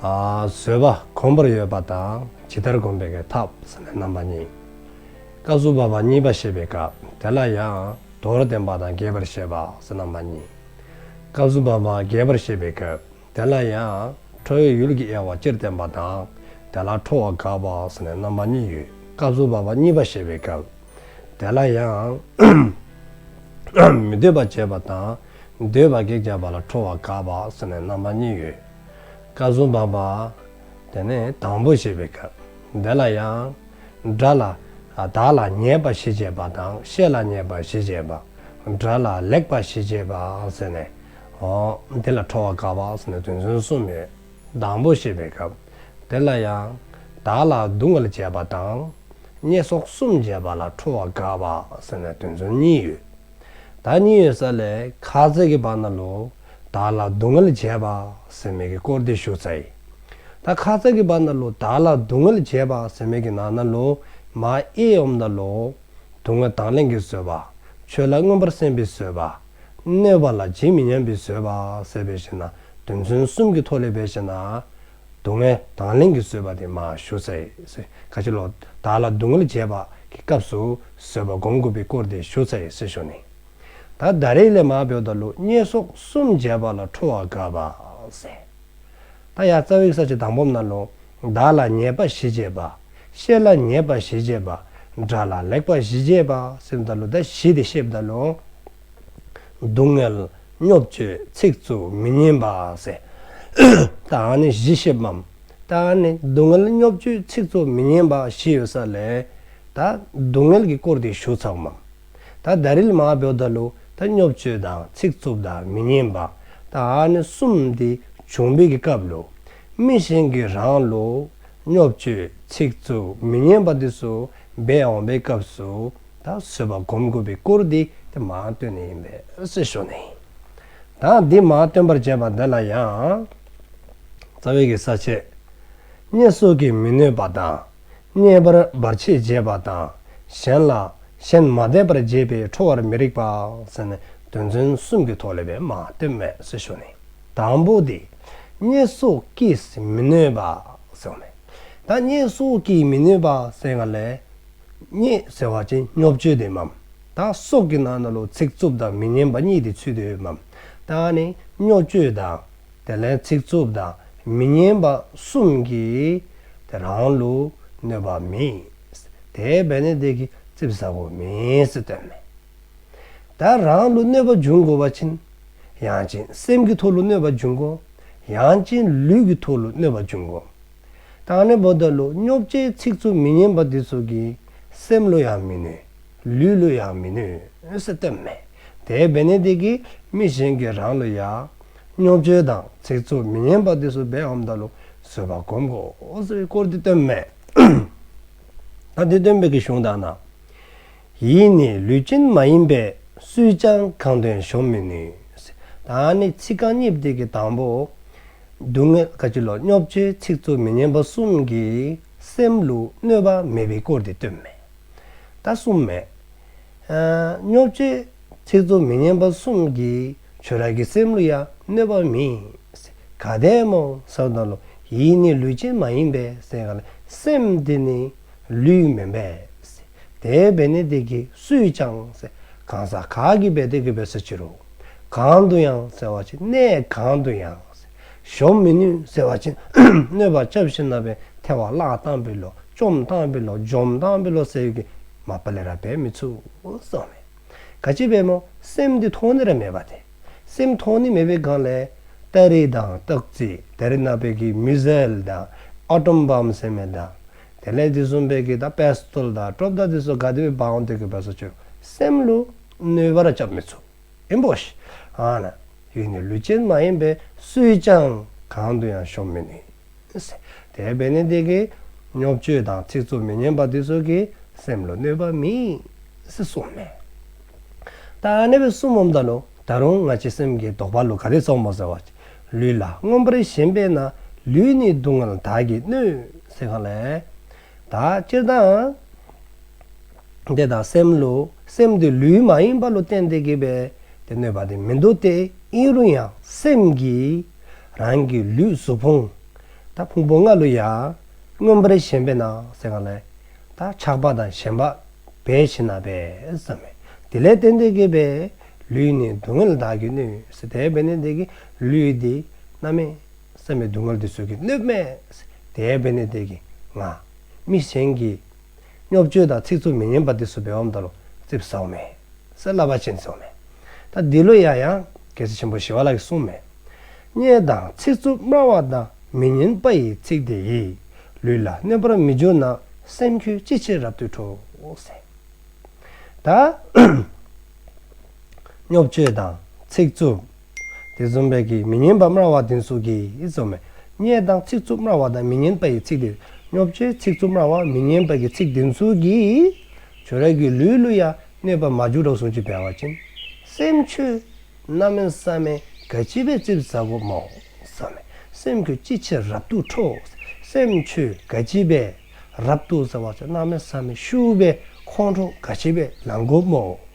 བཟོད་པ་གོང་བུར་ཡོད་པ་དང་ཇི་ལྟར་བསྒོམ་པའི་ཐབས་ཟེར་ན་རྣམ་པ་གཉིས། བཀའ་བསྲུབ་པ་བ་གཉིས་པ་བཤད་པའི་སྐབས་དེ་ལ་ཡང་མདོར་བསྟན་པ་དང་རྒྱས་པར་བཤད་པ་ཟེར་རྣམ་པ་གཉིས། བཀའ་བསྲུབ་པ་བ་རྒྱས་པར་བཤད་པའི་སྐབས་དེ་ལ་ཡང་ཁྲོ་བོའི་ཡུལ་གྱི་དབྱེ་བ་སྤྱིར་བསྟན་པ་དང་དེ་ལ་ཁྲོ་བ་དགག་པ་ཟེར་ནས་རྣམ་པ་གཉིས་ཡོད། བཀའ་བསྲུབ་པ་བ་གཉིས་པ་བཤད་པའི་སྐབས། དེ་ལ་ཡང། མི་འདོད་པ་བརྗོད་པ་དང། འདོད་པ་གེགས་བྱ་བ་ལ་ཁྲོ་བ་དགའ་བ་སོགས་ནས་རྣམ་པ་གཉིས་ཡོད། བཀའ་སྲུང་བམ་པ། དེ་ནི་དང་པོ་ཞེས་པའི་སྐབས། དེ་ལ་ཡང། དགྲ་ལ། བདག་ལ་ཉེས་པ་ཞི་བྱེད་པ་དང་གཤེད་ལ་ཉེས་པ་ཞི་བྱེད་པ། དགྲ་ལ་ལེགས་པ་ཞི་བྱེད་པ། ཟེར་ནས། འོ། འདི་ལ་ཁྲོ་བ་དགའ་བ་སོགས་ནས་དོན་ཚན་གསུམ་ཡོད། སྡང་པོ་བྱེད་པའི་སྐབས་དེ་ལ་ཡང། བདག་ལ་གདུང་བར་བྱེད་པ་དང། བརྙས་སོགས་གསུམ་བྱེད་པ་ལ་ཁྲོ་བ་དགའ་བ་ཟེར་ནས་དོན་ཚུལ་གཉིས་ཡོད། ད་གཉིས་ཡོད་ས་ལས་ཁ་ཟས་ཀྱི་བར་ན་ལོ། བདག་ལ་གདུང་བར་བྱེད་པ་ཟེར་མེད་ཀྱི་སྐོར་འདི་ཞུ་ཚ་ཡིན། ད་ཁ་ཟས་ཀྱི་བར་ན་ལོ་བདག་ལ་གདུང་བར་བྱེད་པ་ཟེར་མེད་ཀྱི་ནང་ན་ལོ། མ་ཨེ་འོམ་ན་ལོ། གདུང་བ་དང་ལེན་གྱི་བཟོད་པ། ཆོས་ལ་མངོན་པར་སེམས་པའི་བཟོད་པ། གནོད་པ་ལ་ཇི་མི་སྙམ་པའི་བཟོད་པ་ཟད་པའི་ཕྱིར་ན་དོན་མཚོན་གསུམ་གྱི་མཐོ་ལས་པའི་ཕྱིར་ན། སྡུག་བསྔལ་དང་ལེན་གྱི་བཟོད་པ་དེ་མ་ཞུ། ཁ་ཆེ་ལོ། བདག་ལ་སྡུག་བསྔལ་བྱས་པ་གི་སྐབས་སུ་བཟོད་པ་བསྒོམ་དགོས་པའི་སྐོར་དེ་ཞུ། ཞེས་ཞུ་ནས། ད་ལྟ་རེག་ལས་མ་བོས་ད་ལུ་སྙེ་སོགས་གསུམ་བརྒྱད་པ་ལ་ཁྲོ་བ་འགགས་པ། ད་ཡང་རྩ་བའི་ས་བྱི་དང་སྦོམ་ན་ལུང་བདག་ལ་ཉེས་པ་ཞི་བྱེད་པ། ཤེས་ལ་ཉེས་པ་ཞི་བྱེད་པ། སྒྲ་ལ་ལེགས་པ་ཞི་བྱེད་པ། སེམས་བདག་ལུས་བདག་བཞི་སྟེ་ཤེས་བདག་ལུས། སྡུག་བསྔལ། སྨྱོ་སྤྱོད། ཚིག་རྩུབ། མི་སྙན་པ། ཟས། དང་ནི་བཞི་ཤེས་པ། དང་ནི་སྡུག་བསྔལ་སྨྱོ་སྤྱོད་ཚིག་རྩུབ་མི་སྙན་པ་བཞི་ཡོད་ས་ལས། དང། སྡུག་བསྔལ་གྱི་སྐོར་དེ་ཞུ་ཚགས་མམ། ད་ལྟ་རིལ་མག་བེའུ་དང་ལུག་ད་སྙོབ་བཅོས་དང་ཚིག་རྩུབ་དང་མི་སྙན་པ་ད་ནི་གསུམ་འདི་བྱུང་འབིག་གི་སྐབས་ལུག་མི་གཞན་གི་རང་ལུག་སྙོབ་བཅོས་ཚིག་རྩུབ་མི་སྙན་པ་འདི་སུ་སྦས་འོང་བའི་སྐབས་སུ་ད་བཟོད་པ་སྒོམ་དགོས་པའི་སྐོར་འདི་ད་མ་སྟོན་ནི་ཡིན་པས་སེ་ཞོ་ནི་ད་འདི་མ་སྟོན་པར་བྱས་པ་འདི་ལ་ཡང། རྩ་བའི་གི་ས་བཅད། བསྙད་གསོག་གིས་མི་གནོད་པ་དང་རྙེད་པར་འབར་བྱེད་འབྱེད་པ་དང་གཞན་ལ། གཞན་མ་དད་པར་འབྱེད་པས་ཁྲོ་བར་མི་རིགས་པ། ཟེར་ནས་དོན་ཚན་གསུམ་གྱི་ཐོག་ལས་པའི་མ་དོན་མེད་ཟེར་ཞོར་ནས། དང་པོ་སྟེ། བརྙས་སོགས་ཀྱིས་མི་གནོད་པ། ཟེར་བ་ནས། ད་བརྙས་སོགས་ཀྱིས་མི་གནོད་པ་ཟེར་བ་ལས། བརྙས་ཟེར་བ་ཅན་སྨྱོ་བཅོས་དེ་འམ། ད་སྲོག་གི་ནང་ན་ལོ་ཚིགས་རྩུབ་དང་མི་སྙན་པ་གཉིས་དེ་ཚུལ་དེ་འམ། ད་ནི་སྨྱོ་བཅོས་དང། དེ་ལན་ཚིག་རྩུབ་དང་མི་སྙན་པ་གསུམ་གྱིས་དེ་རང་ལུགས་གནོད་པ་མིན། དེའི་བས་ནི་དེ་གི་རྩིབ་ཟབ་པོ་མིན་སྲིད་དོན་མེད། དེ་རང་ལུགས་གནོད་པ་འབྱུང་དགོས་པ་ཕྱིན། ཡང་ཅིན་སེམས་ཀྱི་ཐོག་ལུགས་གནོད་པ་འབྱུང་དགོས། ཡང་ཅིན་ལུས་ཀྱི་ཐོག་ལུགས་གནོད་པ་འབྱུང་དགོས། དང་ནི་བོ་ད་ལུགས་སྙོབ་བྱའི་ཚིག་རྩུབ་མི་སྙན་པ་འདི་ཚོ་གིས་སེམས་ལུགས་ཡང་མི་གནོད། ལུས་ལུགས་ཡང་མི་གནོད་སྲིད་དོན་མེད། དེའི་བས་ནི་དེ་གིས་མི་གཞན་གྱི་རང་ལུགས་ཡང་རྙོག་འཛོལ་དང་ཚིག་རྩུབ་མི་སྙན་པ་དེ་ཚོ་སྦེད་འམ་ད་ལུགས་བཟོས་པ་གོམས་དགོས་སའི་སྐོར་དེ་བཏོན་མེད། ད་དེ་བཏོན་མེད་ཀི་གཞུང་དག་ན་ཡིད་ནི་ལུས་ཅན་མ་ཡིན་པས་སུས་ཀྱང་གང་དོན་གཞོམ་མི་ནུས། ད་ནི་ཚིག་རྐང་གཉིས་བརྡེག་གི་དང་པོ། སྡུག་བསྔལ་དཀའ་སྤྱད་ལོ་རྙོག་འཛོལ་ཚིག་རྩུབ་མི་སྙན་པ་གསུམ་གྱིས་སེམས་ལུས་གནོད་པ་མེད་པའི་སྐོར་དེ་བཏོན་མེད། ད་གསུངས་མེད། སྙོབ་བྱེད། ཚིག་རྩུབ་མི་སྙན་པ་གསུམ་གྱིས་ཆོས་རྭ་གི་སེམས་གླུ་ཡང་གནོད་པ་མིན། ག་དད་མོ་སོགས་དང་ལོ། ཡིད་ནི་ལུས་ཅན་མ་ཡིན་པས་སེམས་ག་ལ། སེམས་འདི་ནི་ལུས་མིན་པས། དེའི་བེ་ནི་དེ་གིས་སུས་ཀྱང། གང་ཟག་ག་གིས་བེ་དེ་གི་བེ་སོད་ཕྱིར་རོ། གང་དུ་ཡང་བསལ་བ་ཅི་གནས་གང་དུ་ཡང། གཞོམ་མི་ནུས་ཟེར་བ་བཞིན་གནོད་པ་ཅབ་ཞི་ན་བས་ཐལ་བ་བརླག་བཏང་བི་ལོ་བཅོམ་བཏང་བི་ལོ་འཇོམས་བཏང་བི་ལོ་ཟེར་གི་མ་པ་ལེ་ར་བས་མི་ཚུགས་སོ་མེད། ག་ཅི་བས་མོ་སེམས་འདི་མཐོང་ནི་ར་མེད་པ་དེ། སེམས་མཐོང་ནི་མེད་པའི་སྒང་ལས། སྟ་རེ་དང་སྟག་རྩེ་དེ་རི་ན་བས་གི་མི་ཟེལ་དང་ཨ་ཏོམ་བམ་སེ་མེ་དང། དེ་ལས་འདི་གསུམ་བས་གི་ད་པེ་སི་ཏོལ་དང་ཀྲོབ་ད་དེ་སོ་ག་དེ་བས་བའང་འདོད་གི་བས་སོ་ཅོ་སེམས་ལུ་གནོད་པ་ར་ཅབ་མི་ཚུགས། རིན་པོ་ཆེ། ཡུལ་ནི་ལུས་ཅན་མ་ཡིན་པས་སུས་ཀྱང་གང་དུ་ཡང་ཤོམ་མི་ནུས། དེ་བས་ནི་འདི་གའི་སྨྱོ་སྤྱོད་དང་ཚིག་རྩུབ་མི་སྙན་པ་འདི་ཚོ་གིས་སེམས་ལ་གནོད་པ་མེད། གསུངས་ནས། ད་ནི་བུ་གསུམ་འོམ་དག་ལོ་ད་རུང་ང་ཅི་སེམས་ཀྱི་དོགས་པ་ལོ་ག་རེ་རྩོམ་མོ་ཟེར་བ། ལུས་ལ་མངོན་པར་ཞེན་པས་ན་ལུས་ནི་སྡུག་བསྔལ་དག་གིས་གནོད། ཟེར་གང་ལས། དག་སྤྱིར་བཏང། དེ་དང་སེམས་བློ་སེམས་དེ་ལུས་མ་ཡིན་པ་ལོ་བསྟན་ཏེ་དགེ་བའི་དེ་གནོད་པ་དེ་མི་འདུག་སྟེ་ཨིན་རུ་ཡང་སེམས་ཀྱིས་རང་གི་ལུས་གཟུགས་ཕུང་དང་ཕུང་པོ་ལྔ་ལོ་ཡང་མངོན་པར་ཞེན་པས་ན་སེམས་ལྔ་ལས་དང་ཆགས་པ་དང་ཞེན་པ་བས་ཞེ་ན་བས་སམ་མེ་དེ་ལས་བསྟན་ཏེ་དགེ་བའི་ལུས་ནི་སྡུག་བསྔལ་དག་གིས་གནོད་སྲིད་དེ་བས་ན་དེ་གི་ལུས་དེ་རྣམ་མེད། བསམ་མེད་སྡུག་བསྔལ་འདི་སོགས་ཀྱིས་གནོད། དེའི་དཔེ་ནི་དེ་གི་ང། མི་གཞན་གྱི། རྙོག་སྤྱོད་དང་ཚིག་རྩུབ་མི་སྙན་པ་འདི་སོགས་འབེལ་བའམ་བརྡ་རུ་རྩིབས་ཟག་མེད། སེར་བླ་བ་ཅན་ཚོགས་མེད། ད་འདི་ལོ་ཡ་ཡང། རྒྱལ་སྲས་ཆེན་པོ་ཞི་བ་ལགས་ཀྱི་གསུང་མེད། སྙན་དང་ཚིག་རྩུབ་སྨྲ་བ་དང་མི་སྙན་པ་ཡི་ཚིག་དེ་ཡིས། ལུས་ལ་གནོད་པར་མི་འགྱུར་ན་སེམས་ཁྱོད་ཅི་ཕྱིར་རབ་ཏུ་ཁྲོ། ད། རྙོག་སྤྱོད་དང་ཚིག་རྩུབ། དེ་རྩོམ་པས་ཀྱིས་མི་ཉན་པ་སྨྲ་བ་དེ་སུ་ཀྱིས་རྩོམ་མེད། སྙད་དང་ཚིག་རྩུབ་སྨྲ་བ་དང་མི་ཉན་པ་ཡི་ཚིག་དེ་སྙོབ་བྱའི་ཚིག་རྩུབ་སྨྲ་བ་མི་ཉན་པ་གྱི་ཚིག་དེ་སུ་ཀྱིས། བྱོལ་རས་ཀྱི་ལུས་གླུ་ཡང་གནོད་པ་མ་བྱུག་གྲོགས་ཟུང་གཅིག་བལ་བ་ཅན། སེམས་ཆོས། རྣམ་སྨིན་བསམ་མེད་དགའ་སྐྱིད་བས་རྩིབས་བཟའ་གོ་སྨྲའོ། བསམ་མེད་སེམས་ཁྱོད་ཅི་ཕྱིར་རབ་ཏུ་ཁྲོ། སེམས་ཆོས་དགའ་སྐྱིད་བས་རབ་ཏུ་བཟའ་བ་ཚོས་རྣམ་སྨིན་བསམ་མེད་ཤུགས་པས་ཁོང་ཁྲོ་དགའ་སྐྱིད་བས་ལངས་གོ་སྨྲའོ།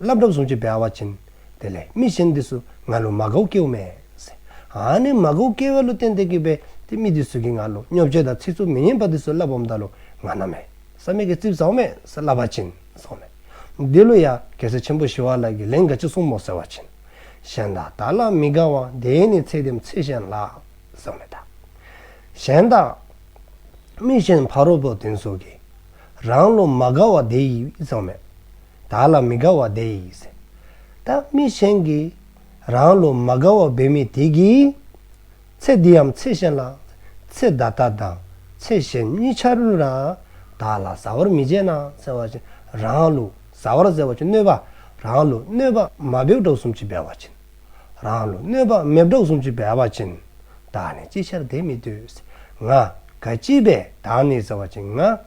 བླ་བྲབ་བཟུང་བྱེད་པའི་ཨ་བ་ཅན། དེ་ལས་མི་གཞན་འདི་སུ་ང་ལུ་མ་གོ་ཀེའུ་མེ། ཨ་ནི་མ་གོ་ཀེའུ་ལུ་བསྟན་ཏེ་ཀེ་པེ་དེ་མི་འདི་སུ་ཀེ་ང་ལུ་སྙོབ་བྱེད་དང་ཚིག་རྩུབ་མི་སྙན་པ་འདི་སུ་བླ་བོམ་ད་ལུ་ང་ན་མེ། ས་མེ་ཀེ་རྩིབ་ཟའོ་མེ་སི་བླ་བ་ཅན་སོགས་མེ། འདི་ལོ་ཡ་གེ་སེ་ཆེན་པོ་ཞི་བ་ལ་གི་ལན་ག་ཅི་གསུང་མོ་ཟེར་བ་ཅན། གཞན་དག་དག་ལ་མི་དགའ་བ་དེ་ནི་ཚེ་དེམ་ཚེ་གཞན་ལ། ཟེར་བ་མེ་དག། གཞན་དག། མི་གཞན་ཕ་རོལ་པོ་དེ་སུ་ཀེ། རང་ལུ་མ་དགའ་བ་དེ་ཡིས་ཟེར་བ་མེ། བདག་ལ་མི་དགའ་བ་དེ་ཡིས། བདག་མི་གཞན་གྱིས། རང་ལོ་མ་དགའ་བ་འབད་མི་དེ་གྱིས། ཚེ་འདིའམ་ཚེ་གཞན་ལ། ཚེ་ད་ལྟ་དང་ཚེ་གཞན་གཉིས་ཆར་ལུས་ལ། བདག་ལ་བཟའ་བར་མི་བྱེད་ན་ཟེར་བ་བཞིན་རང་ལུས་བཟའ་བར་ཟེར་བ་བཞིན་གནོད་པ། རང་ལུས་གནོད་པ་མ་འབེབས་གྲོགས་གསུམ་གྱིས་འབལ་བ་བྱིན། རང་ལུས་གནོད་པ་མེད་གྲོགས་གསུམ་གྱིས་འབལ་བ་བྱིན། བདག་ནི་ཅི་ཕྱིར་དེ་མི་ལྟོས། ང་དགའ་ཅི་བས་བདག་ནི་ཟེར་བ་བཞིན་ང།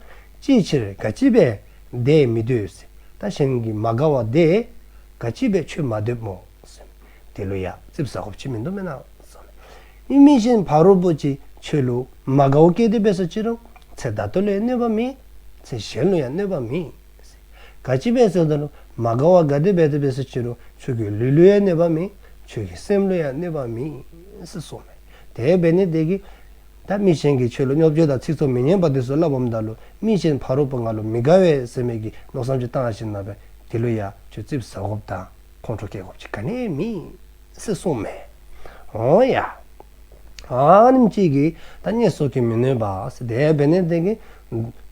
ཅིའི་ཕྱིར་དགའ་ཅི་བས་འདས་མི་འདོད། ད་བཞིན་གྱི་མ་དགའ་བ་འདས། དགའ་སྐྱིད་པའི་ཆོས་མ་འདོད་མོ། དེ་ལོ་ཡག་རྩིབས་ཟ་ཁོ་བྱེད་མི་འདོད་མེད་ན། ཨི་མི་བཞིན་བར་རོ་པོ་ཅི་ཆོས་ལུགས་མ་དགའ་བོ་སྐད་དོད་པས་སོ་ཅི་རུང་ཚེ་ད་དོ་ལས་གནོད་པ་མིན། ཚེ་གཞན་ལོ་ཡང་གནོད་པ་མིན། དགའ་སྐྱིད་པས་སོ་ད་ལོ་མ་དགའ་བ་དགའ་དོད་པས་དོད་པས་སོ་ཅི་རུང་ཆོས་ཀྱི་ལུས་ལོ་ཡང་གནོད་པ་མིན། ཆོས་ཀྱི་སེམས་ལོ་ཡང་གནོད་པ་མིན། གསུངས། དེའི་བས་ནི་བདེ་གི། ད་མི་གཞན་གྱི་ཆོས་ལ་རྙོག་བརྗོད་དང་ཚིག་ཚོགས་མི་སྙན་པ་དུས་སུ་བསླབ་བམ་བདག་ལུས་མིག་ཅན་ཕ་རོལ་པོ་ང་ལ་མི་དགའ་བས་སེམས་མེད་ཀྱིས་མནོ་བསམ་ཅི་བཏང་ཡང་ཞིག་ན་བས་དེ་ལུས་ཡ་ཆོས་རྩིབ་ཟ་གོབ་དང་ཁོང་ཁྲོ་སྐྱེ་གོབ་ཅི་ག་ནས་མི་སྲིད་གསུངས་མེད། འོང་ཡ། ཨཱ་ནིམ་སྐྱིད་ཀྱིས་ད་བརྙས་གསོག་གིས་མི་ནུས་པ་དེ་ཡང་བས་ནས་བདེན་གྱི།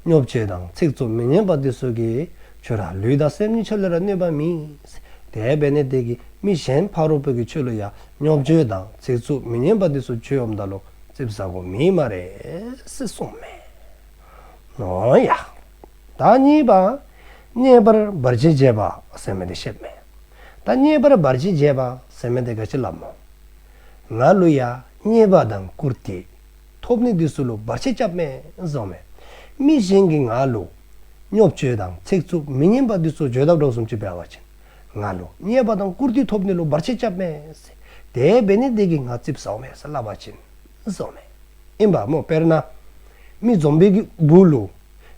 རྙོག་བརྗོད་དང་ཚིག་ཚོགས་མི་སྙན་པ་དུས་སུ་གྱི། ཆོས་ར་ལུས་དང་སེམས་ཉིད་ཆ་ལུས་ར་གནོད་པ་མི་སྲིད་དེ་ཡང་བས་ནས་བདེན་གྱི་མི་གཞན་ཕ་རོལ་པོ་གྱི་ཆོས་ལུས་ཡ་རྙོག་འཛིང་དང་རྩེག་རྩུབ་མི་སྙན་པ་འདི་ཚོ་ཆོས་འོམ་འདའ་ལོ་རྩིབ་ཟ་གོ་མིན་མ་རེད་སེ་གསུངས་མེད། ཨོ་ཡ། བདག་གཉིས་པ། རྙེད་པར་འབར་ཆེན་རྒྱས་པ་ཟེར་མི་དེ་ཤེས་མེད། ད་རྙེད་པར་འབར་ཆེན་རྒྱས་པ་ཟེར་མི་དེ་ག་ཅི་ལབ་མོ། ང་ཀླུ་ཡ་རྙེད་པ་དང་བཀུར་དེ། ཐོབ་ནི་འདི་སུ་ལུ་འབར་ཆེན་སྐྱབས་མེད་གསུངས་མེད། མི་གཞན་གྱི་ང་ཀླུ། རྙོག་འཛིང་དང་རྩེག་རྩུབ་མི་སྙན་པ་འདི་ཚོ་བརྗོད་ཐབས་སྒྲོག་གསུམ་གྱི་བེལ་བ་བྱིན། ང་ལོ་རྙེད་པ་དང་བཀུར་སྟི་ཐོབ་ནི་ལོ་འབར་ཆེ་སྐྱབས་མེད། དེ་བས་ནི་བདེ་གི་ང་རྩིབ་ཟག་མེད་བསླབ་པ་བྱིན་ཟོག་མེད་ཡིན་པ་མོ་དཔེར་ན། མི་འཛོམས་པའི་གི་འབུ་ལོ།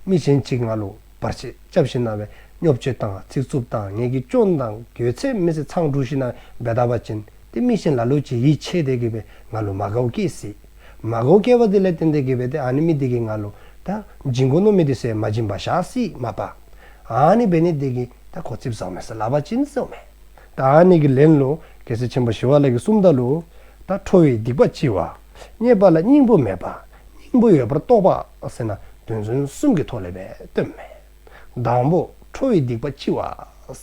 མི་གཞན་གཅིག་ང་ལོ་འབར་ཆེ་སྐྱབས་ཤིག་གནང་བས་སྙོབ་བྱེད་དང་ཚིག་རྩུབ་དང་ངན་གི་སྐྱོན་དང་གྱོད་ཚད་མི་སེ་ཚང་དྲུག་ཤིག་གནང་བས་འབད་ད་པ་བྱིན་ཏེ་མི་གཞན་ལ་ལོ་ཅི་ཡིད་ཆེས་བདེ་གི་བས་ང་ལོ་མ་གའོ་སྐྱེས་སྲིད། མ་གའོ་སྐྱེས་པ་དེ་ལས་ཏན་ཏན་གི་བས་དེ་ཨ་ནི་མི་བདེ་གི་ང་ལོ་ད་འབྱིན་གོ་ནོ་མི་དེ་སེ་མ་འབྱིན་པ་བཞག་སྲིད་མ་པ། ཨཱ་ནི་བེ་ནི་ཏེ་ཀི་ཏཱ་གོ་ཚིབ་ཟག་མེད་ས་ལ་བ་ཅིན་ཟག་མེད། ཏཱ་ཨཱ་ནི་ཀི་ལན་ལོ་ཀེ་སེ་ཆེན་པོ་ཞི་བ་ལ་ཀི་གསུམ་ཏཱ་ལོ། ཏཱ་ཁྲོ་བའི་སྡིག་པ་ལྕི་བ། རྙེད་པ་ལ་སྙིང་པོ་མེད་པ། སྙིང་པོ་ཡོད་པར་རྟོགས་པ་སེ་ན་དོན་མཚོན་གསུམ་གྱི་ཐོག་ལས་པས་སྟོན་མེད། དང་པོ་ཁྲོ་བའི་སྡིག་པ་ལྕི་བ་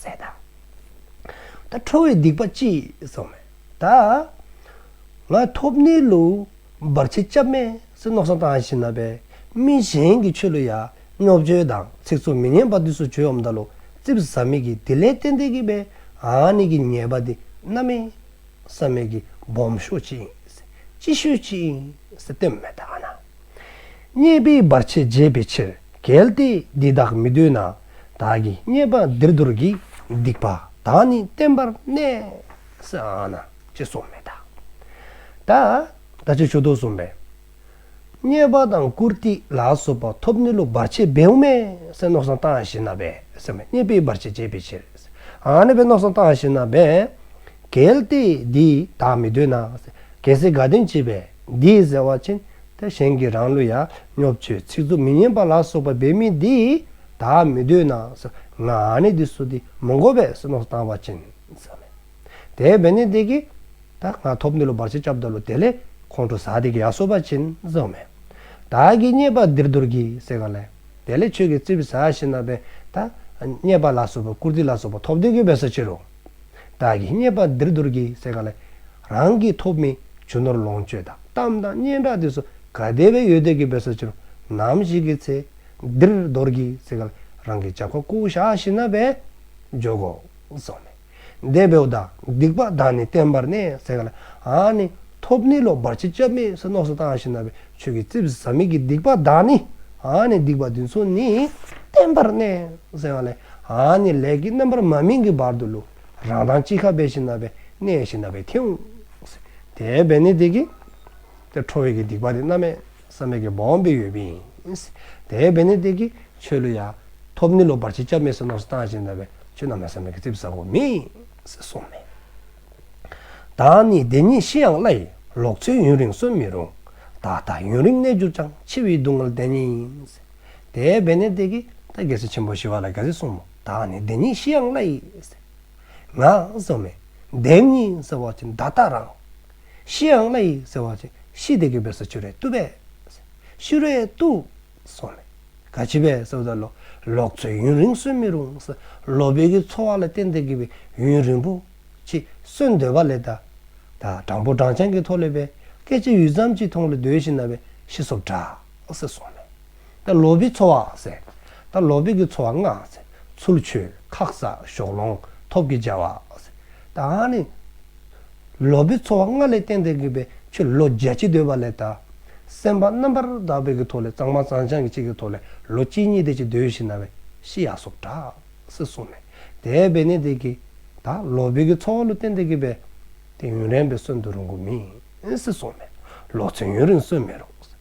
སེ་ཏཱ། ཏཱ་ཁྲོ་བའི་སྡིག་པ་ལྕི་ཟག་མེད་ཏཱ། ང་ཐོབ་ནི་ལོ། འབར་བྱེད་སྐྱབས་མེད་སེ་ནོག་སང་ཏང་ཤིན་ན་པའི། མི་གཞན་གྱི་ཆོས་ལོ་ཡ། རྙོག་བཅོས་དང་ཚིག་ཚོགས་མི་སྙན་པ་དུས་སུ་བྱོལ་འམ་འདའ་ལོ་རྩིབས་ཟ་མིག་གིས་དེ་ལས་ཏན་ཏན་གྱི་པའི་ཨང་ནི་གི་ཉེས་པ་དེ་རྣམ་མིན། བསམ་མེད་ཀྱི་སྦོམ་ཤོས་ཅི་ཡིན། ཅི་ཤོས་ཅི་ཡིན་སྟོན་མེད་ད་ང་ན། རྙེད་པའི་བར་ཆད་རྒྱས་པའི་ཕྱིར་གལ་ཏེ་འདི་དག་མི་འདོད་ན། བདག་གིས་རྙེད་པ་འདིར་རྡོར་གྱིས་སྡིག་པ་དག་ནི་བསྟན་པར་གནས་སའང་ན་ཅི་སོགས་མེད་ད། ད་ལྟ་ཆོས་ཕྱོགས་དུག་གསུམ་པའི། རྙེད་པ་དང་བཀུར་སྟི་ལ་སོགས་པ་ཐོབ་ནི་ལུགས་བར་ཆད་བེའུ་མའི་སེམས་ནོག་སང་བཏང་བཞིན་ན་བས་སེམས་ལ་རྙེད་པའི་བར་ཆད་བྱེད་པའི་ཕྱིར། ཨ་ནི་བས་ནོག་སང་བཏང་བཞིན་ན་བས། གལ་ཏེ་འདི་དག་མི་འདོད་ན། གལ་སྲིད་དགའ་སྟོན་བྱེད་པས་འདི་ཟེར་བ་ཅན་དེ་གཞན་གྱི་རང་བློ་ཡ་སྙོབ་ཆོས་ཚིག་རྩུབ་མི་སྙན་པ་ལ་སོགས་པ་བེད་མེད་འདི་དག་མི་འདོད་ན། ང་ནི་འདི་སོ་འདི་མི་འགོ་བས་སེམས་ནོག་སང་བཏང་བ་ཅན། དེའི་བེ་ནི་དེ་ཀི། ད་ང་ཐོབ་འདི་ལོ་བར་ཆད་བཅབ་ད་ལོ་དེ་ལས། ཁོང་ཁྲོ་ཟ་དེ་ཀི་ཡ་སོ་བ་བྱིན་བཟོ་མེད། ད་ཀི་རྙེད་པ་འདིར་འདོར་གི་སེ་ག་ལས། དེ་ལས་ཆོས་ཀི་རྩི་བི་ས་ཤི་ན་བེ། ད་རྙེད་པ་ལ་སོ་བ་བཀུར་སྟི་ལ་སོ་བ་ཐོབ་དེ་ཀི་བེ་སོ་ཕྱིར་རོ། ད་ཀི་རྙེད་པ་འདིར་འདོར་གི་སེ་ག་ལས། རང་གི་ཐོབ་མི་ཆུ་ནོར་ལོངས་སྤྱོད་དང་གཏམ་དང་སྙན་གྲགས་དེ་སོ་ག་དེ་བེ་ཡོད་དེ་ཀི་བེ་སོ་ཕྱིར་རོ། ནམ་ཞིག་གི་ཚེ། འདིར་འདོར་གི་སེ་ག་ལས་རང་གི་བྱ་བ་ཀུ་ཤ་ཤི་ན་བེ། འཇོག་གོ། བཟོ་མེད། འདས་པའི་བདག་སྡིག་པ་དག་ནི་བསྟན་པར་གནས་ཟེར་ག་ལ་ཨ་ནི། ཐོབ་ནི་ལོག་པར་ཅི་བཅབས་མེད་ཟེར་ནོགས་སུ་བཏང་ཞིང་ན་བའི་ཆོས་ཀྱི་རྩིབས་སུ་ཟག་མེད་ཀྱི་སྡིག་པ་དག་ནི་ཨ་ནི་སྡིག་པ་འདི་ཚོ་ནི་བསྟན་པར་གནས་ཟེར་ག་ལ་ཨ་ནི་ལས་ཀྱི་རྣམ་པར་མ་སྨིན་གྱི་བར་དུ་ལུས་རང་དང་ཅི་ཁ་བས་ཞིང་ན་བས་གནས་ཞིང་ན་བས་ཐིམ། དེ་བས་ནི་དེ་ཀྱི། དེ་ཁྲོ་བས་ཀྱི་སྡིག་པ་དེ་རྣམ་མེད། བསམ་མེད་ཀྱི་བོང་བུའི་ཡོད་པིན། དེའི་བེ་ནི་སྟེ་ཀྱི་ཆོས་ལུས་ཡ། ཐོབ་ནི་ལོ་བར་ཆིས་སྐྱབས་མེད་སོ་ནོགས་སུ་བཏང་ཞིང་གདའ་བའི་ཆོས་རྣམས་ལ་བསམ་མེད་ཀྱི་རྩིབས་ཟབ་བོ་མིས་སོ་མེ། བདག་ནི་བདེན་གཉིས་ཤི་ཡང་བླ་ཡི་ལོག་འཚོའི་ཡུན་རིང་གསོན་མི་རུང། བདག་ལྟ་ཡུན་རིང་གནས་གྱུར་ཅང་འཆི་བའི་སྡུག་བསྔལ་བདེན་གཉིས། དེའི་བེ་ནི་སྟེ་ཀྱི་ད་རྒྱལ་སྲིད་ཆེན་པོ་ཞི་བ་ལ་རྒྱལ་སྲིད་གསུམ་མོ་བདག་ནི་བདེན་གཉིས་ཤི་ཡང་བླ་ཡི། ངག། སོ་མེ། བདེན་གཉིས་སོ་བར་ཆིས་མདའ་རྟགས་རང། ཤི་ཡང་བླ་ཡིག་ཟེར་བ་ཆེ་ཤི་དེ་གི་བོད་ས་ཆུ་རའི་ཏུ་པས། ཤུ་རའི་ཏུ། སོགས་ལས། ག་བྱི་བས་ས་བཟའ་ལོ། ལོག་འཚོའི་ཡུན་རིང་གསོན་མི་རུང། ས་ལོ་བོད་ཀྱི་འཚོ་བ་ལ་བརྟེན་ཏེ་གི་བའི་ཡུན་རིང་པོ། ཆི། གསོན་འདོད་པ་ལས་ད། ད་སྦྲང་བུ་སྦྲང་ཆང་གི་ཐོག་ལས་པའི། སྐད་ཆ་ཡུད་ཙམ་གྱིས་མཐོང་ལ་འདོད་བཞིན་ན་བའི་ཤི་སོབ་གྲགས། སོགས་ལས། ད་ལོ་བི་འཚོ་བ་ཟེར། ད་ལོ་བི་གི་འཚོ་བ་ལྔ། ཚུལ་འཆོས་ཁག་བཟའ་ཞོག་ལོང་ཐོབ་ཀྱི་བྱ་བ། ད་ནི་ལོ་བི་འཚོ་བ་ལྔ་ལས་གཏན་དེ་གི་བའི་ཆུ་ལོ་བརྒྱ་ཅི་འདོད་པ་ལས་ད་སེམས་པ་རྣམ་པར་དག་པའི་གི་ཐོག་ལས་གཙང་མ་གཙང་བྱང་གི་ཅི་གི་ཐོག་ལས་ལོ་གཅིག་གཉིས་དེ་ཅི་འདོད་ཤི་ན་བའི་ཤི་ཡ་སོགས་གྲགས་སི་གསུངས་ནས་དེ་བས་ནི་དེ་གི་ད་ལོ་བི་གི་འཚོ་བ་ལོ་གཏན་དེ་གི་བའི་དེ་ཡུན་རན་པའི་སོན་དུ་རུང་གི་མིན་སི་གསུངས་ནས་ལོ་ཚོད་ཡུན་རིང་སོན་མི་རུང།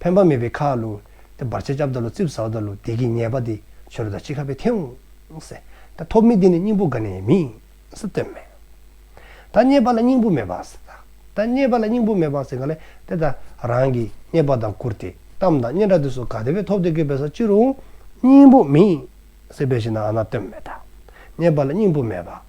ཕན་པ་མེད་པའི་ཁ་ལོ། དེ་བར་ཆད་བཅབས་ད་ལོ་རྩིབས་ཟ་བ་ད་ལོ་བདེ་གི་ཉེས་པ་དེ་ཆོས་ར་ད་ཅི་ཁ་བའི་ཐེའུ་ཟེ། ད་ཐོབ་མི་དེ་ནི་སྙིང་པོ་ག་ནས་མི་ཟེ་སྟོན་མེད། ད་རྙེད་པ་ལ་སྙིང་པོ་མེད་པ་ཟེ་ད་རྙེད་པ་ལ་སྙིང་པོ་མེད་པ་ཟེ་ག་ལས་དེ་ད་རང་གི་རྙེད་པ་དང་བཀུར་ཏེ་གཏམ་དང་སྙན་གྲགས་དེ་སོ་ག་དེ་བས་ཐོབ་དེ་སྐད་པའི་ས་ཅི་རུང་སྙིང་པོ་མི་ཟེ་བས་ཤི་ན་ཨ་ན་སྟོན་མེད་ད་རྙེད་པ་ལ་སྙིང་པོ་མེད་པ།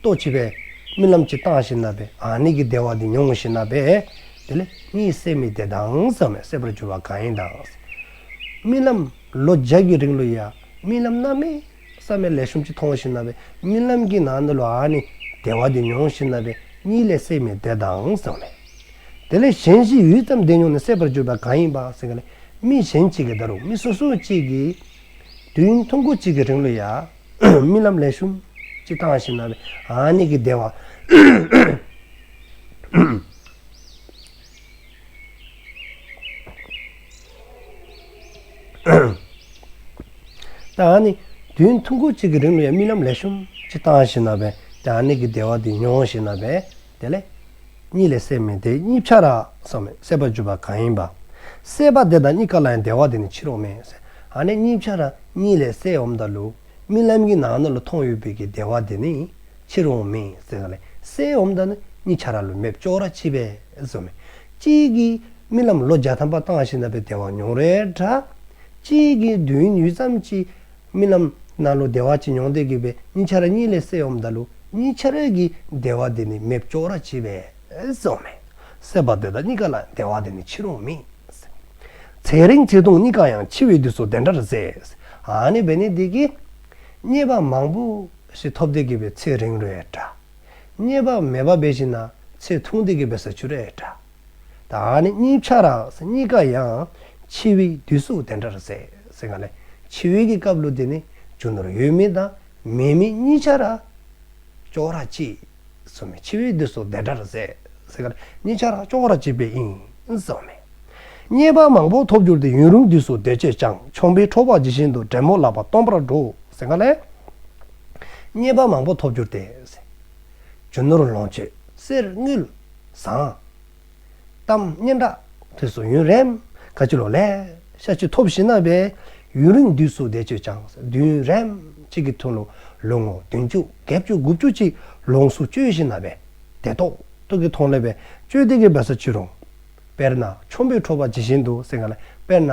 ལྟོ་འཕྱེ་བས། རྨི་ལམ་གྱི་སྟངས་ཤིག་ན་བས་ཨཱ་ནི་གི་བདེ་བ་འདི་མྱོང་ངོ་ཞེ་ན་བས། དེ་ལས་གཉིད་སད་མི་བདེ་དང་ཟག་མེད་སད་པར་འགྱུར་བ་གང་ཡིན་དང། རྨི་ལམ། ལོ་བརྒྱ་གི་རིང་ལོ་ཡ། རྨི་ལམ་ན་མེ། སད་མེད་ལས་ཤོམ་གྱིས་མཐོང་ངོ་ཞེ་ན་བས་རྨི་ལམ་གྱི་ནང་ན་ལོ་ཨཱ་ནི་བདེ་བ་འདི་མྱོང་ཞེ་ན་བས་གཉིད་ལས་སད་མི་བདེ་དང་ཟག་མེད། དེ་ལས་གཞན་ཞིག་ཡུད་ཙམ་བདེ་མྱོང་ནས་སད་པར་འགྱུར་བ་གང་ཡིན་པང་སེང་གེ་ལས་རྨི་གཞན་གཅིག་གི་བརྡ་རུ་རྨི་སོ་སོ་གཅིག་གིས། དུས་ཡུན་ཐུང་ཁུག་གཅིག་གི་རིང་ལོ་ཡ། རྨི་ལམ་ལས་ཤུམ། ཅི་བཏང་བཞིན་ན་བས་ཨཱ་ནི་གི་བདེ་བ། ཏཱ་ནི། དུས་ཐུང་ཁུག་ཅིག་གི་རིང་ལ་ཡང་རྨི་ལམ་ལས་ཤུམ། ཅི་བཏང་བཞིན་ན་བས་ཏཱ་ནི་གི་བདེ་བ་འདི་མྱོང་བཞིན་ན་བས། དེ་ལས། གཉིས་ལས་སད་མི་དེ་གཉིས་ཕྱ་ར། སང་མེད་སད་པར་བརྗོད་པ་གང་ཡིན་པ། སད་པ་དེ་དང་གཉིས་ཀ་ལ་ཡང་བདེ་བ་དེ་ནི་ཕྱིར་འོང་མེད། སད་ཧ་ནི་གཉིས་ཕྱ་ར་གཉིས་ལས་སད་འོང་བརྡ་ལུགས། རྨི་ལམ་གྱི་ནང་ན་ལ་མཐོང་ཡོད་པའི་གི་བདེ་བ་དེ་ནི། ཕྱིར་འོང་མེད་སད་ཧ་ལས་སད་འོང་བརྡ་ནི་གཉིས་ཕྱ་ར་ལུས་མེད་བཅོ་ར་ཕྱི་པས། སང་མེད། གཅིག་གིས་རྨི་ལམ་ལོ་བརྒྱ་ཐམ་པ་བཏང་ཞིང་ན་བའི་བདེ་བ་མྱོང་རེག་འདྲ། གཅིག་གིས་མདུན་ཡུད་ཙམ་གྱིས། རྨི་ལམ། སྣང་གློ་བདེ་བ་ཅན་མྱོང་སྟེ་གུས་པས་གཉིས་ཆར་གཉིས་ལས་སྲས་འོམ་བདག་ལུ་གཉིས་ཆར་རས་ཀྱི་བདེ་བ་དེ་ནི་མེ་ལྕོག་ར་བྱེད་པས་སོ་མེ། སྲེད་པ་འདོད་བདག་གཉིས་ཀ་ལ་བདེ་བ་དེ་ནི་ཕྱི་རུང་མི། ཚེ་རིང་ཚེ་ཐུང་གཉིས་ཀ་ཡང་འཆི་བའི་དུས་སུ་དེ་འདྲར་ཟད། ནི་བས་ནི་དེ་ཀའི། རྙེད་པ་མང་པོ་ཞིག་ཐོབ་སྟེ་གུས་པས་ཚེ་རིང་རེད་འདྲ། རྙེད་པ་མེད་པ་བས་ཤི་ན་ཚེ་ཐུང་སྟེ་གུས་པས་ཟ་ཆུ་རེད་འདྲ། ད་ནི་གཉིས་ཆ་རགས་གཉིས་ཀ་ཡང་ཕྱི་དབྱིག་བསྡུས་གཟུགས་དེ་འདྲར་ཟད། ཟེར་ག་ལ། ཕྱི་དབྱིག་གི་བཀའ་བློ་དེ་ནི་རྒྱུ་ནོར་ཡོད་མིན་དང་མེད་མིན་གཉིས་ཆ་རགས། ཅོག་རགས་གཅིག། སོ་མའི་ཕྱི་དབྱིག་བསྡུས་གཟུགས་དེ་འདྲར་ཟད། ཟེར་ག་ལ། གཉིས་ཆ་རགས་ཅོག་རགས་གཅིག་པའི་དབྱིངས་སོ་མའི། རྙེད་པ་མང་པོ་ཐོབ་གྱུར་ཏེ་ཡུན་རིང་བསྡུས་གཟུགས་བདེ་སྐྱིད་ཅང་ཆོམ་པའི་ཁྲོ་བག་ཇི་བཞིན་དུ་བྲན་མོ་ལག་པ་སྟོང་པར་འགྲོ། ཟེར་ག་ལ། རྙེད་པ་མང་པོ་ཐོབ་གྱུར་ཏེ། རྒྱུ་ནོར་ལོངས་སྤྱོད་གསེར་དངུལ། བཟང། གཏམ་སྙན་གྲགས་དུས་སུ་ཡུན་རན། ཁ་ཆུ་ལོ་ལེགས་ཤ་ཆུ་ཐོབ་བཞིན་ན་བས། ཡུན་རིང་དུས་སུ་བདེ་སྤྱོད་ཅང་བདུན་རན། གཅིག་གི་ཐུན་ལོ་ལོ་ངོ་བདུན་བཅུ་བརྒྱད་བཅུ་དགུ་བཅུ་གཅིག་ལོངས་སུ་སྤྱོད་བཞིན་ན་བས། དེ་ཐོག་ཐུག་གི་ཐོང་ལེ་བས་སྤྱོད་བདེ་གི་བས་ས་ཆུ་རུང། དཔེར་ན་ཆོམ་པོའི་ཁྲོ་བ་ཇི་བཞིན་དུ་སེང་ག་ལ་དཔེར་ན།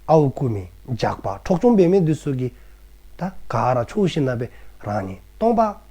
ཨའུ་ཀུ་མི་འཇགས་པ་འཕྲོག་ཆོམ་པའི་མེ་དུ་སུ་གི། ད་ག་ར་ཆུ་བཞིན་ན་བས་རང་ཉིད་སྟོང་པ།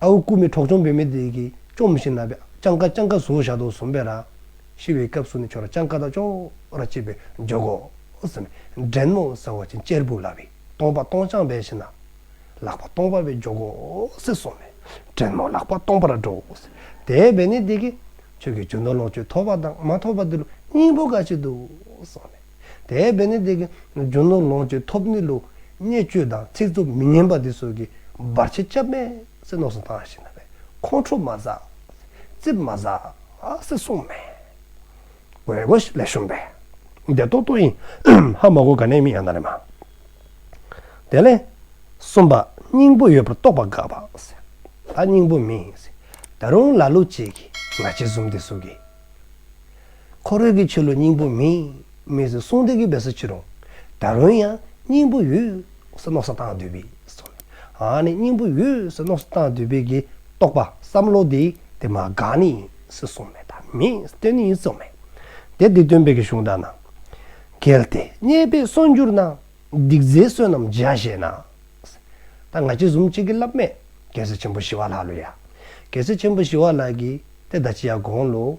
ཨ་བུ་སྐུ་མི་གྲོགས་གཅོང་བོད་མི་དེ་གིས་གཅོང་མི་ཤི་ན་བས་སྤྱང་ཀ་སྤྱང་ཀ་བཟུང་བཞག་འདུག་བཟུང་བས་ར། ཤི་བའི་སྐབས་སུ་ནི་ཁྱོད་ར་སྤྱང་ཀ་དང་ཅོ་ར་གཅིག་པའི་འཇོག་གོ། ཟེར་ནས་འདྲེན་ནོ་ཟེར་བ་ཅན་གཅེར་བུ་ལ་བས་སྟོང་པ་སྟོང་སྤྱང་བས་ཤི་ན། ལག་པ་སྟོང་པ་བས་འཇོག་གོ་ཟེར་སོང་ནས་འདྲེན་ནོ་ལག་པ་སྟོང་པ་ར་འགྲོ་ཟེར། དེ་བས་ནི་དེ་གིས་ཁྱོད་ཀྱི་ཇོ་ནོར་ལོངས་སྤྱོད་ཐོབ་པ་དང་མ་ཐོབ་པ་དེ་ལོ་སྙིང་པོ་འགའ་ཞིག་འདུག་གསུངས་ནས། དེ་བས་ན་དེ་གའི་རྒྱུ་ནོར་ལོངས་སྤྱོད་ཐོབ་ནུས་ལུགས་བརྙས་བཅོས་དང་ཚིག་རྩུབ་མི་སྙན་པ་འདི་ཚོ་གི་སྦར་ཆ་སྐྱབས་མེད་སེ་ནོག་སུ་བཏང་ཞེ་ན་བས་ཁོང་ཁྲོ་མ་ཟ། རྩིབ་མ་ཟ། སེ་གསུངས་མེད། དགོས་མཁོ་ལས་བཤོམས་པས་དེ་ཏོག་ཏོག་ཡིན། ཧ་མ་གོ་ག་ནས་མི་ཡང་ན་རེ་མ། དེ་ལས་གསུམ་པ་སྙིང་པོ་ཡོད་པར་རྟོགས་པ་དགག་པ། ད་སྙིང་པོ་མིན། ད་རུང་ལ་ལུགས་གཅིག་གིས་ང་ཅི་བཟུང་འདི་གཟུགས་ཀྱི། འཁོར་བོད་ཀྱི་ཆོས་ལུགས་སྙིང་པོ་མིན། མི་ཟེར་གསུང་འདི་གི་བེད་སོ་ཅི་རུང། ད་རུང་ཡང་སྙིང་པོ་ཡུལ། ཟེར་ནོག་སོ་སྟངས་དུས་བེད་སོ། ཧཧཧ་ནི་སྙིང་པོ་ཡུལ་ཟེར་ནོག་སོ་སྟངས་དུས་བེད་ཀྱི་རྟོག་པ་བསམ་བློ་དེ་དེ་མ་དགག་ནི་ཟེར་གསུང་མེད་དང་མེད་བསྟོད་ནི་ཡིན་གསུང་མེད། དེ་འདི་སྟོན་བེད་ཀྱི་གཞུང་དང་ན། གལ་ཏེ་རྙེད་བེད་སོ་འགྱུར་ན། སྡིག་རྫས་བསོད་ནམས་འཇལ་བཞེད་ན། ད་ང་ཅི་ཟུམ་ཅིག་གི་ལབ་མེད་རྒྱལ་སྲས་ཆེན་པོ་ཞི་བ་ལགས་ལོ་ཡ། རྒྱལ་སྲས་ཆེན་པོ་ཞི་བ་ལགས་ཀྱིས་དེ་ད་ཅི་ཡ་དགོངས་ལོ།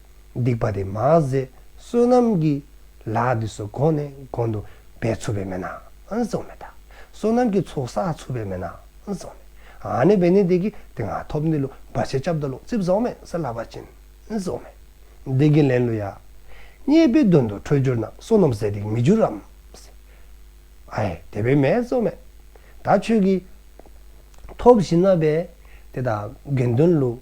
སྡིག་པ་དེ་མ་ཟད་བསོད་ནམས་ཀྱི་ལག་འདི་སོགས་གོང་ནས་གོང་དུ་བས་འཚུབ་པའི་མེད་ནའང་གཙང་མེད། བསོད་ནམས་ཀྱི་ཚོགས་བསགས་འཚུབ་པའི་མེད་ནའང་གཙང་མེད། ཨ་ནི་བས་ནི་དེ་ཀྱི་དེ་ང་ཐོབ་འདི་ལོ་འབའ་ཆེན་སྐྱབས་ད་ལོ་རྩིབས་བཟང་མེད་ས་ལ་བ་ཅན་གཙང་མེད། བདེ་གི་ལན་ལོ་ཡ། རྙེད་པའི་དོན་དུ་འཕྲོད་འགྱུར་ན་བསོད་ནམས་ཟད་དེ་མི་འགྱུར་རམ། ཨ་ཧེ་དེ་བས་མེད་གཙང་མེད། ད་ཁྱོད་ཀྱིས། ཐོབ་བཞི་ན་བས་དེ་དག་དགེ་འདུན་ལུགས།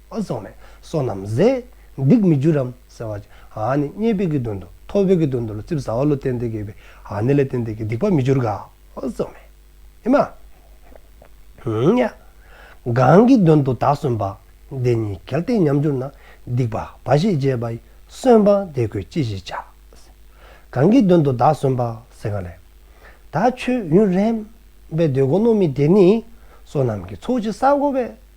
ཨ་སོགས་ནས་སོ་ནམ་བཟས། སྡིག་མི་འགྱུར་རམ་ཟེར་བར། ཨ་ནི་རྙེད་པའི་གི་དོན་དུ་ཐོབ་པའི་གི་དོན་དུ་ལ་རྩིབས་ཟ་བ་ལོ་སྟན་ཏེ་གས་པའི་ཨ་ནི་ལ་སྟན་ཏེ་གི་སྡིག་པ་མི་འགྱུར་ག་ཨོ་སོགས་ནས། ཨེ་མ། ཧཱུྃ། གང་གི་དོན་དུ་དག་སོན་པ། འདི་ཉིད་གལ་ཏེ་ཉམས་འགྱུར་ན། སྡིག་པ་འབའ་ཞིག་སྤྱད་པ། སོན་པ་དེ་ཁོས་ཅི་ཞིག་བྱ། གང་གི་དོན་དུ་དག་སོན་པ། སེང་ག་ལས། ད་ཁྱོད་ཡུན་རན། པའི་འདོད་དགུ་སྣོད་མི་དེ་ནི། སོ་ནམ་གྱི་ཚོགས་ཀྱི་ས་བསྒོ་བས།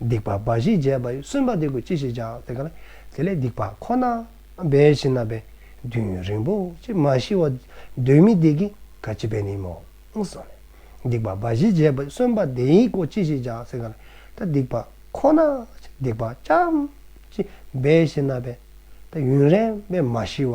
སྡིག་པ་འབའ་ཞིག་བྱས་པ་ཡིན་གསོན་པ་སྡིག་པ་ཅི་ཞིག་བྱ། དེ་གང། དེ་ལས་སྡིག་པ་ཁོ་ན་འབའ་ཞིག་ན་བས་དུས་ཡུན་རིང་པོ་ཅིག་མ་ཤི་བ་གདོན་མི་སྡིག་གི་ག་ཅི་བས་ནི་མོངས་གསུངས་ནས། སྡིག་པ་འབའ་ཞིག་བྱས་པ་ཡིན་གསོན་པ་དེ་ཡིན་ཀོ་ཅི་ཞིག་བྱ། དེ་གང། ད་སྡིག་པ་ཁོ་ན་སྡིག་པ་ཅི་ཅི་འབའ་ཞིག་ན་བས་ད་ཡུན་རན་བས་མ་ཤི་བ་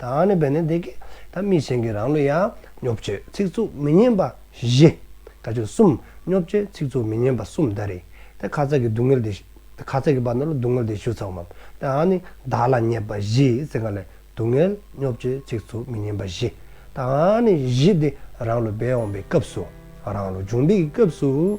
དང་ནི་བས་ནི་འདི་སྐད། ད་མི་གཞན་གྱི་རང་ལུས་ཡང། སྨྱོ་བཅོས་ཚིག་རྩུབ་མི་སྙན་པ་བཞི། དགྲ་བཅོས་གསུམ། སྨྱོ་བཅོས་ཚིག་རྩུབ་མི་སྙན་པ་གསུམ་ད་རེ། ཏེ་ཁ་ཚ་གི་སྡུག་བསྔལ་ཏེ། ཁ་ཚ་གི་བར་ན་ལ་སྡུག་བསྔལ་ཏེ་ཞུ་ཚ་བ་འམ། དང་ནི་བདག་ལ་ཉེས་པ་བཞི་ཟེར་ག་ལ། སྡུག་བསྔལ་སྨྱོ་བཅོས་ཚིག་རྩུབ་མི་སྙན་པ་བཞི། དང་ནི་བཞི་སྟེ་རང་ལུས་བས་འོངས་པའི་སྐབས་སུ། རང་ལུས་འབྱུང་འདི་ཀྱི་སྐབས་སུ།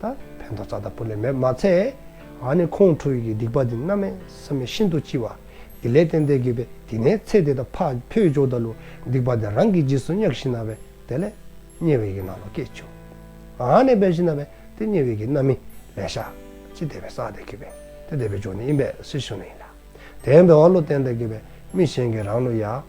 ད་ཕན་ཐོགས་རྩ་དང་པོ་ལས་མེད་མ་ཚད། ང་ནི་ཁོང་ཁྲོའི་གི་སྡིག་པ་འདི་རྣམས་མེད་བསམ་མེད་ཤིན་ཏུ་ལྕི་བ། དེ་ལས་ཏན་ཏན་དགོས་པས་དེ་ནས་ཚེ་འདི་དང་ཕག་ཕུལ་ཇོ་ད་ལུ་སྡིག་པ་འདི་རང་གི་རྗེས་སུ་གཉགས་ཤིང་ན་བས་དེ་ལས། དམྱལ་བའི་གི་ནང་ལ་སྐྱེས་བྱུང། ང་ནི་བས་ཤིང་ན་བས་དེ་དམྱལ་བའི་གི་རྣམ་སྨིན་ལས་བྱ། ཅི་བདེ་བའི་ས་དེ་གི་བས་དེ་བདེ་བའི་ཇོ་ནི་ཡིན་པས་སྲིད་ཞུ་ནི་ཡིན་ལ། དེ་བས་བ་ལུ་ཏན་ཏན་གི་བས་མི་གཞན་གི་རང་ལུ་ཡ།